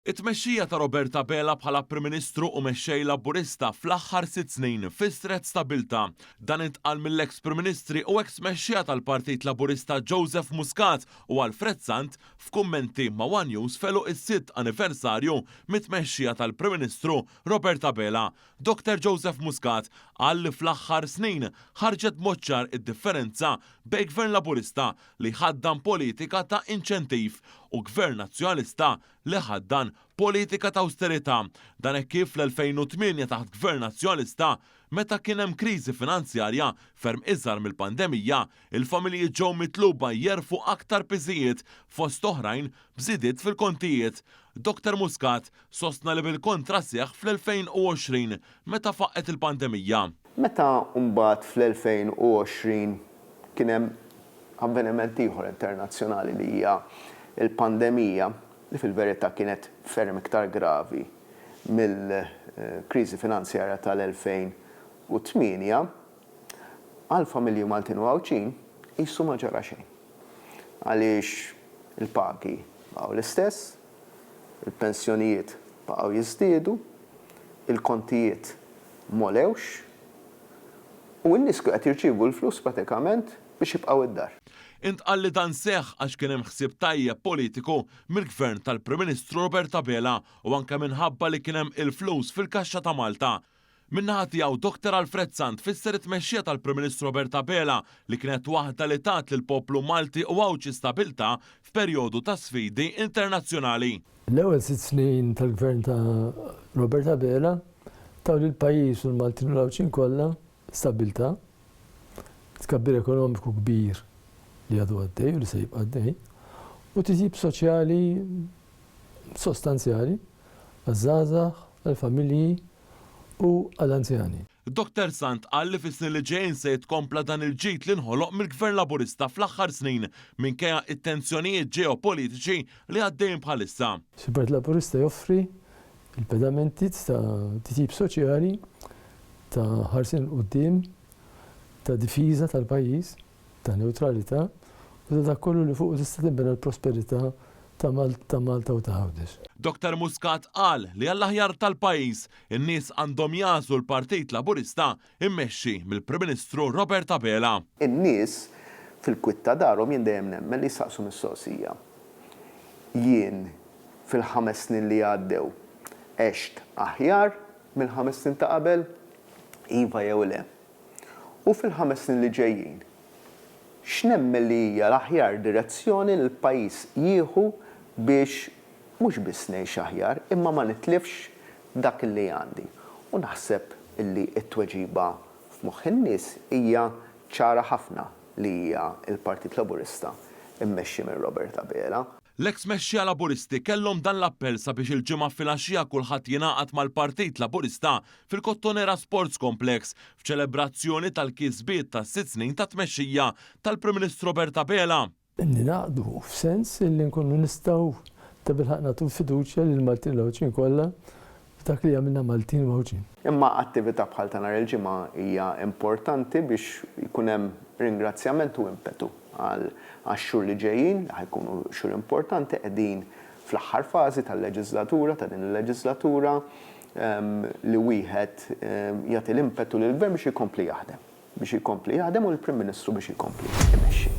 It-tmexxija ta' Robert Abela bħala Prim Ministru u Mexxej Laburista fl-aħħar sitt snin fissret stabbiltà. Dan intqal mill-eks Prim Ministri u eks Mexxejja tal-Partit Laburista Joseph Muscat u Alfred Sant f'kummenti ma' one News f'għeluq is-sitt anniversarju mit-tmexxija tal-Prim Ministru Robert Abela. Dr Joseph Muscat qal li fl-aħħar snin ħarġet b'mod ċar id-differenza bejn Gvern Laburista li jħaddan politika ta' inċentiv u Gvern Nazzjonalista li jħaddan politika ta' awsterità. Dan hekk kif fl-2008 taħt Gvern Nazzjonalista, meta kien hemm kriżi finanzjarja ferm iżgħar mill-pandemija, il-familji ġew mitluba jerfgħu aktar piżijiet fost oħrajn b'żidiet fil-kontijiet, Doktor Muscat sostna li bil-kontra seħħ fl-2020 meta faqqgħet il-pandemija. Meta mbagħad fl-2020 kien hemm avveniment ieħor internazzjonali li hija l-pandemija li fil-verità kienet ferm iktar gravi mill-kriżi finanzjarja tal-2008, Għall-familji Maltin u Għawdxin qisu ma ġara xejn għaliex il-pagi baqgħu l-istess, il-pensjonijiet baqgħu jiżdiedu, il-kontijiet m'għolewx u n-nies kienu qed jirċievu l-flus pratikament biex jibqgħu d-dar. Intqal li dan seħħ għax kien hemm ħsieb tajjeb politiku mill-Gvern tal-Prim Ministru Robert Abela u anke minħabba li kien hemm il-flus fil-kaxxa ta' Malta. Min-naħa tiegħu, Doctor Alfred Sant fisser it-tmexxija tal-Prim Ministru Robert Abela li kienet waħda li tat lill-poplu Malti u Għawdxi stabilta f'perjodu ta' sfidi internazzjonali. L-ewwel sitt snin tal-Gvern ta' Robert Abela taw lill-pajjiż u l-Maltin u l-Għawdxin kollha stabilta, tkabbir ekonomiku kbir li għadu għaddej u li se jibqa' għaddej u titjib soċjali sostanzjali għaż-żgħażagħ, għall-familji u għall-anzjani. Dottor Sant qal li fis-snin li ġejjin se jitkompla dan il-ġid li nħoloq mill-Gvern Laburista fl-aħħar snin minkejja t-tensjonijiet ġeopolitiċi li għaddejjin bħalissa. Il-Partit Laburista joffri l-pedamenti ta' titjib soċjali, ta' ħarsien 'l quddiem, ta' difiża tal-pajjiż. ta' newtralità u ta' dak kollu li fuqu tista' tinbena l-prosperità ta' Malta u ta' Għawdex. Doktor Muscat qal li għall-aħjar tal-pajjiż, in-nies għandhom jagħżlu l-Partit Laburista mmexxi mill-Prim Ministru Robert Abela. In-nies fil-kwiet ta' darhom jien dejjem nemmen li jsaqsu mistoqsija. Jien fil-ħames snin li għaddew għext aħjar mill-ħames snin ta' qabel? Iva jew le? u fil-ħames snin li ġejjin, x'nemmen li hija l-aħjar direzzjoni li l-pajjiż jieħu biex mhux biss ngħix aħjar imma ma nitlifx dak li għandi. U naħseb li t-tweġiba f'moħħ in-nies hija ċara ħafna li hija l-Partit Laburista mmexxi minn Robert Abela. L-eks mexxija Laburisti kellhom dan l-appell sabiex il-Ġimgħa filgħaxija kulħadd jingħaqad mal-Partit Laburista fil-Kottonera Sports Complex f'ċelebrazzjoni tal-kisbiet tas-sitt snin ta' tmexxija tal-Prim Ministru Robert Abela. Ningħaqdu f'sens li nkunu nistgħu tabilħaqq nagħtu l-fiduċja lill-Maltin l-Għawdxin kollha f'dak li jagħmilna Maltin u Għawdxin. Imma attività bħal ta' nhar il-Ġimgħa hija importanti biex jkun hemm ringrazzjament u impetu għax-xhur li ġejjin, li ħa jkunu xhur importanti, qegħdin fl-aħħar fażi tal-leġiżlatura, ta' din il-leġiżlatura, li wieħed jagħti l-impetu lill-Gvern biex ikompli jaħdem, biex ikompli jaħdem u lill-Prim Ministru biex ikompli imexxi.